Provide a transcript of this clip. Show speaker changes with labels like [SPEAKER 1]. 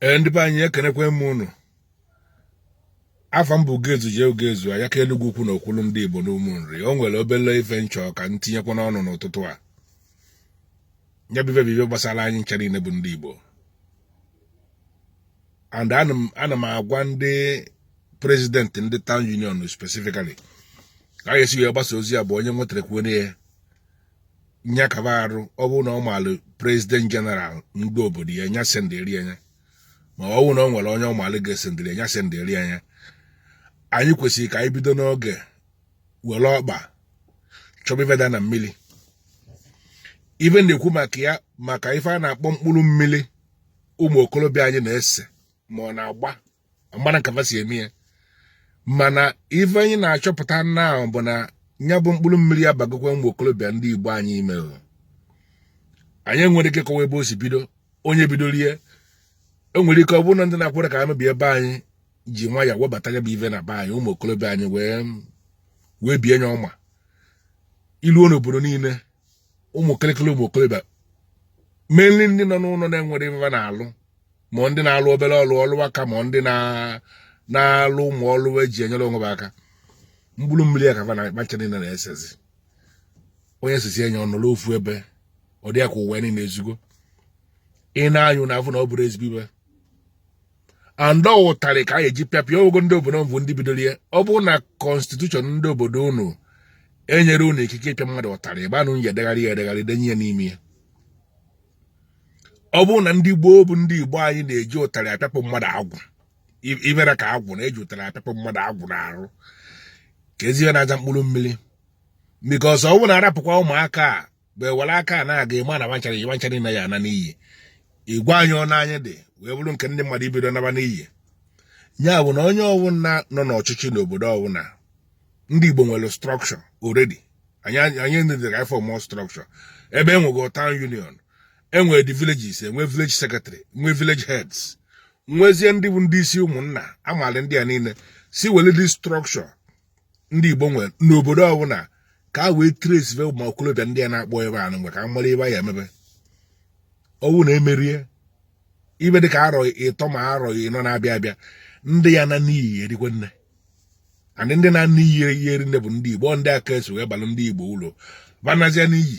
[SPEAKER 1] ee ndị be anyị ekenekwa m unu afa m bụ Ugezu J Ugezu ayaka Enugwu Ukwu na okwulu ndị Igbo n'Ụmụ Nri o nwere obele ife m chọ ka m tinyekwanụ ọnụ n'ụtụtụ a nya bụ ife bụ ife gbasara anyị ncha niile bụ ndị Igbo and ana m- ana m agwa ndị president ndị town union specifically ka a ga-esi wee gbasa ozi a bụ onye nwetara kwuo ya nyakaba arụ ọ bụrụ na ọ maalụ president general ndị obodo ya nya sendịrị ya nya ma ọ bụrụ na ọ nwere onye ọ maalụ ga-esendịrị ya nya sendịrị ya nya anyị kwesịrị ka anyị bido n'oge were ọkpa chọba ife da na mmiri ife m na-ekwu maka ya maka ife a na-akpọ mkpụrụ mmiri ụmụ okorobịa anyị na-ese ma ọ na-agba amarọ m ka fa si eme ya mana ife anyị na-achọpụta now bụ na ya bụ mkpụrụ mmiri abagokwa ụmụ okorobịa ndị be anyị ime anyị enwerọ ike kọwa ebe o si bido onye bidoro ya e nwere ike ọ bụrụ na ndị na-akwere ka anụ bi ebe anyị ji nwayọ webata ya bụ ife na be anyị ụmụ okorobịa anyị wee wee bie nya ọma i luo n'obodo niile ụmụ kịrịkịrị ụmụ okorobịa mainly ndị nọ n'ụlọ na-enwerọ ife fa na-alụ ma ndị na-alụ obere ọlụ ọlụ aka ma ndị na-alụ ụmụ ọlụ eji enyere onwe fa aka mkpụrụ mmiri a ka fa ncha niile na-esezi onye sesịa nya ọ nọrọ ofu ebe ọ dị ya ka ụwa niile ezugo ị nee ya anya ị fụ na ọ bụrọ ezigbo ife and ụtarị ka a ga-eji pịapụ ya ogo ndị obodo bụ ndị bidoro ya ọ bụrụ na constitution ndị obodo unu enyerọ unu ikike ịpịa mmadụ ụtarị ebe anụ ya edegharị ya edegharị denye ya n'ime ya ọ bụrụ na ndị gboo bụ ndị be anyị na-eji ụtarị apịapụ mmadụ agwụ ibere ka agwụ na-eji ụtarị apịapụ mmadụ agwụ n'arụ kezi ife na-aza mkpụrụ mmiri because ọ bụrụ na a rapụkwa ụmụaka a mgbe were aka a na-aga ịma na banchara iji fa ncha niile ya-ana n'iyi igwe anyị ọ n'anya dị wee bụrụ nke ndị mmadụ ebido naba n'iyi ya bụ na onye ọbụla nọ n'ọchịchị n'obodo ọbụla ndị Igbo nwere structure already anyị needirọ ịform structure ebe e nwego town union e nwere the villages enwe village secretary nwe village heads nwezie ndị bụ ndị isi ụmụnna amaala ndị a niile si were dị structure ndị Igbo nwere n'obodo ọbụla ka e wee traceibe ụmụ okorobịa ndị a na-akpọ ife anụ mgbe ka a mara ife a ya-eme fa ọ bụrụ na emerọ ya ife dị ka arọ ịtọ ma arọ ịnọ na-abịa abịa ndị ya-ana n'iyi erikwa nne and ndị na n'iyi ya-eri nne bụ ndị Igbo ndị aka esi wee balụ ndị Igbo ulu fa naasịa n'iyi